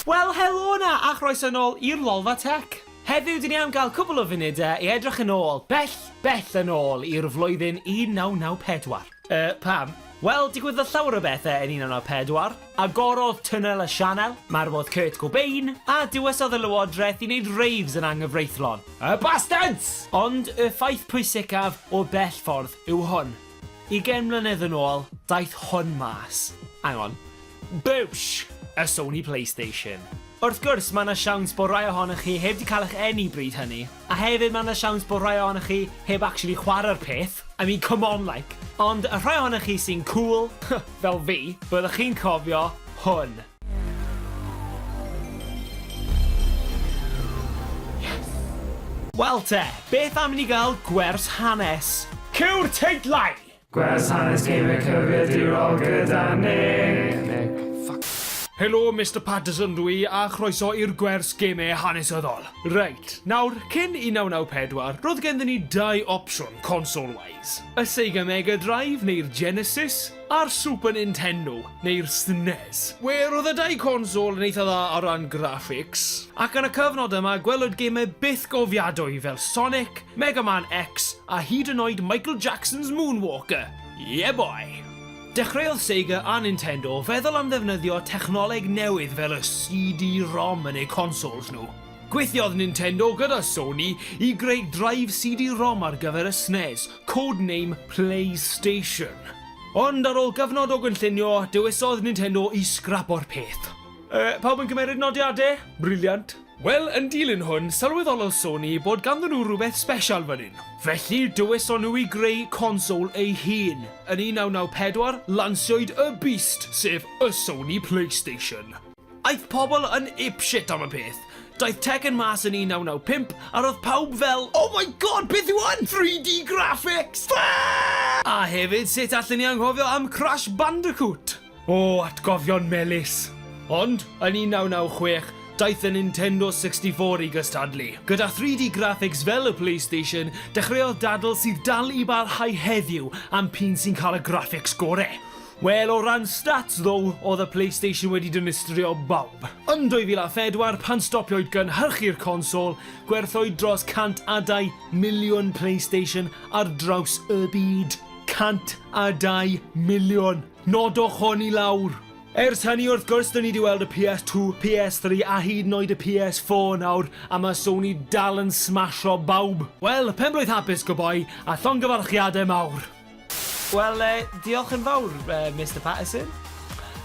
Wel helo 'na a chroeso nôl i'r Lolfa Tech! Heddiw dyn ni am gael cwpl o funudau i edrych yn ôl, bell, bell yn ôl i'r flwyddyn 1994. Yy, pam? Wel, digwyddodd llawer o bethe yn 1994. Agorodd Tunnel y Sianel, marwodd Kurt Cobain, a dywesodd y Lywodraeth i wneud raves yn anghyfreithlon. Y bastards! Ond y ffaith pwysicaf o bell ffordd yw hwn. Ugain mlynedd yn ôl, daeth hwn mas. Hang on. Bwsh! Y Sony Playstation. Wrth gwrs, mae 'na siawns bod rai ohonoch chi heb 'di cael eich eni bryd hynny. A hefyd mae 'na siawns bod rhai ohonoch chi heb actually chwarae'r peth, I mean come on like! Ond y rhai ohonoch chi sy'n cŵl, fel fi, byddwch chi'n cofio hwn. Wel te, beth am i ni gael gwers hanes? Cewr teitlau! Gwers hanes Gamer cyfrifiadurol gyda Nick. Helo Mister Patterson dw i a chroeso i'r gwers Gamer hanesyddol. Reit, nawr, cyn 1994, roedd genddyn ni dau opsiwn console-wise. Y Sega Mega Drive neu'r Genesis, a'r Super Nintendo. neu'r SNES. We, roedd y dau console yn eitha dda o ran graphics, ac yn y cyfnod yma gwelwyd gemau bythgofiadwy fel Sonic, Mega Man X, a hyd yn oed Michael Jackson's Moonwalker! Yeah boy! Dechreuodd Sega a Nintendo feddwl am ddefnyddio technoleg newydd fel y CD-ROM yn eu consoles nhw. Gweithiodd Nintendo gyda Sony i greu drive CD-ROM ar gyfer y SNES, codename PlayStation. Ond ar ôl cyfnod o gynllunio, dewisodd Nintendo i sgrapo'r peth. Yy, pawb yn cymeryd nodiade? Briliant. Wel, yn dilyn hwn, sylweddolodd Sony bod ganddyn nhw rhywbeth sbesial fan hyn. Felly, dewiso nhw i greu console eu hun. Yn 1994, lansiwyd y Beast, sef y Sony Playstation. Aeth pobl yn apeshit am y peth. Daeth Tekken mas yn 1995 a roedd pawb fel Oh my god, beth yw hwn? 3D graphics! Fuck! A hefyd sut allen ni anghofio am Crash Bandicoot? O, atgofion melys! Ond, yn 1996, daeth y Nintendo 64 i gystadlu. Gyda 3D graphics fel y PlayStation, dechreuodd dadl sydd dal i barhau heddiw am p'un sy'n cael y graphics gore. Wel, o ran stats ddo, oedd y Playstation wedi dinistrio bawb. Yn 2004, pan stopio'u gynhyrchu'r consol, gwerthwyd dros 100 a 2 miliwn Playstation ar draws y byd. 100 a 2 miliwn! Nodwch hon i lawr! Ers hynny, wrth gwrs, dyn ni 'di weld y PS2, PS3 a hyd yn oed y PS4 nawr, a mae Sony dal yn smasho bawb! Wel, pen-blwydd hapus, go boi, a llongyfarchiadau mawr! Wel, eh, diolch yn fawr, eh, Mister Patterson.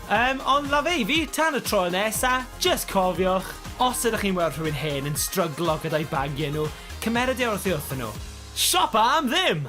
Um, ond la fe i fi, tan y tro nesa, just cofiwch, os ydych chi'n weld rhywun hen yn stryglo gyda'i bagiau nhw, cymeryd e wrth i wrthyn nhw. Siopa am ddim!